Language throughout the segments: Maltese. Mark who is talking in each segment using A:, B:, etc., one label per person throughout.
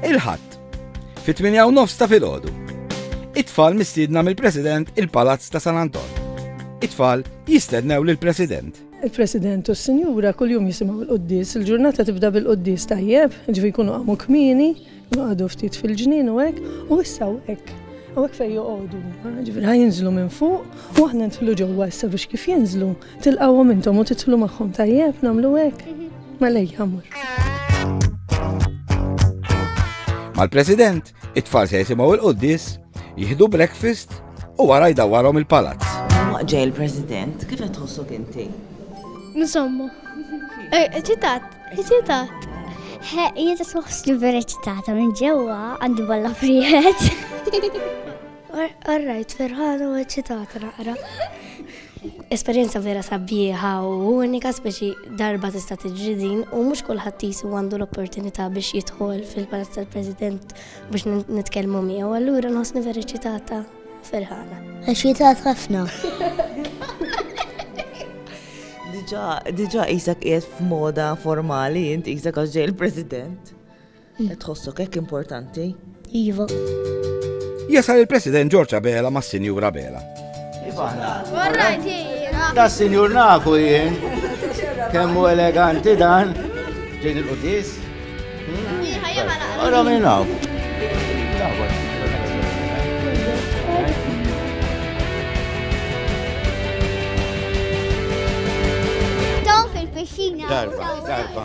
A: Il-Ħadd, fit-tminja u nofs ta' filgħodu. It-tfal mistiedna mill-President il-Palazz ta' San Anton. It-tfal jistednew lill-President. Il-President u
B: s-Sinjura kuljum jisimgħu l-quddis. Il-ġurnata tibda bil-quddis tajjeb, ġifi jkunu qamu kmieni, jqogħdu ftit fil-ġnien u hekk, u issa u hekk. U hekk fejn joqogħdu, ġifi ħajinżlu minn fuq, u aħna ntħlu ġewwa issa biex kif jinżlu, Tilqawhom intom u titlu magħhom tajjeb nagħmlu hekk? Mela jgħamur.
A: Mal-President, it-tfal se jisimgħu il-quddis, jieħdu breakfast u wara jdawwarhom il-palazz. Waqġej
C: il-President, kif qed tħossok inti? Insomma.
D: Eċitat, eh, eċitat. Jiet
E: tħoss li vera eċitata minn ġewwa għandi balla frijet.
D: Qarrajt ferħana u eċċitata naqra. Esperjenza vera sabiħa u unika speċi darba tista' tiġri din u mhux kulħadd jisu għandu l-opportunità biex jidħol fil-Palazz tal-President biex nitkellmu miegħu. Allura nħossni vera eċċitata ferħana. Eċċitat ħafna.
C: Diġa, diġa Isak qiegħed f'moda formali, int Isak għax ġej il-President. Qed tħossok hekk importanti? Iva.
A: Jasal il-President George Abela ma' Sinjur Abela.
D: Da sinjur nafu
F: jien. Kemmu eleganti dan. Ġejn il-qudis. Għara minn hawn. Darba,
E: darba.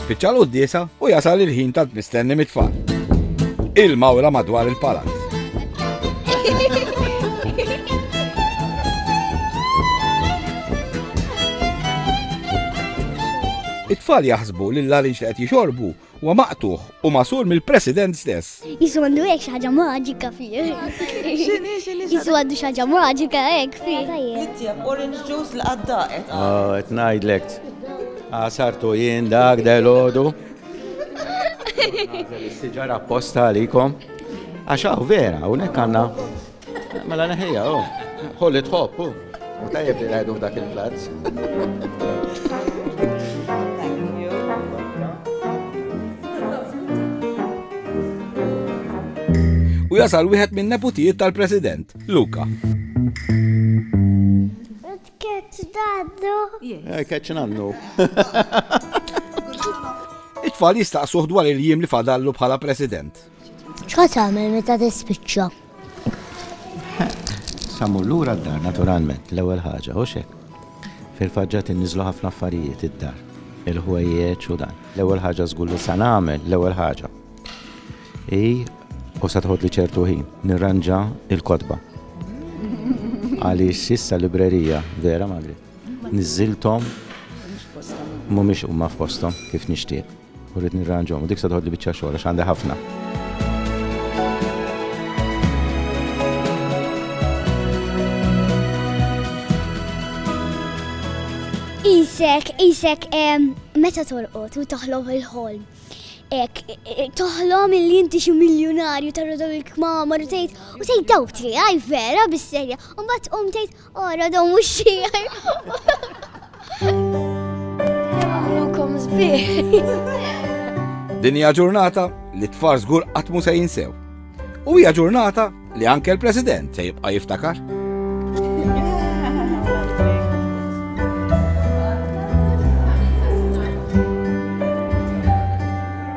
A: Spiċċa l-quddiesa u jasal il-ħin tant mistenni mit-tfal. Il-mawra madwar il-palazz. It-tfal jaħsbu li l-larinġ li qed jixorbu huwa maqtuħ u masur mill-President stess. Jisu għandu hekk xi ħaġa
E: maġika fih. X'inhi x'inhi Jisu għandu xi ħaġa maġika hekk fih. Tittjeb orange
C: juice li qaddaqet. Ah, qed ngħidlek.
F: Għasartu ah, jien dak delodu. Siġara apposta għalikom. Għax hawn vera, hawnhekk għandna. Mela neħija, u. Ħolli tħobb, u. U tajjeb li rajdu f'dak il-plazz.
A: U jasal wieħed minn neputijiet tal-President, Luka. Ketċ
F: daddu. Eh, ketċ nannu.
A: It-tfal jistaqsuh dwar il-jiem li fadallu bħala President. X'ħa tagħmel
E: meta tispiċċa?
F: Sa mmur lura d-dar naturalment l-ewwel ħaġa, hux hekk. Fil-faġġat inniżlu ħafna affarijiet id-dar, il-ħwejjeġ u dan. L-ewwel ħaġa żgur li sa nagħmel, l-ewwel ħaġa. I u sa tħodli ċertu ħin nirranġa il-kotba. Għaliex issa librerija, vera Magri, niżilthom mhumiex huma f'posthom kif nixtieq. U rrid nirranġhom u dik se toħodli biċċa xogħol għax għandi ħafna.
E: Isek, isek, meta torqot u toħlom il-ħolm. Ek, toħlom il inti xi miljonarju tarrodaw il-kmamar u tgħid u tgħid dawti, għaj vera bis-serja, u mbagħad qum tgħid Ora dom u xir. Għamlukom zbir.
A: Dinja ġurnata li tfar zgur għatmu se jinsew. U hija ġurnata li anke l-President se jibqa' jiftakar.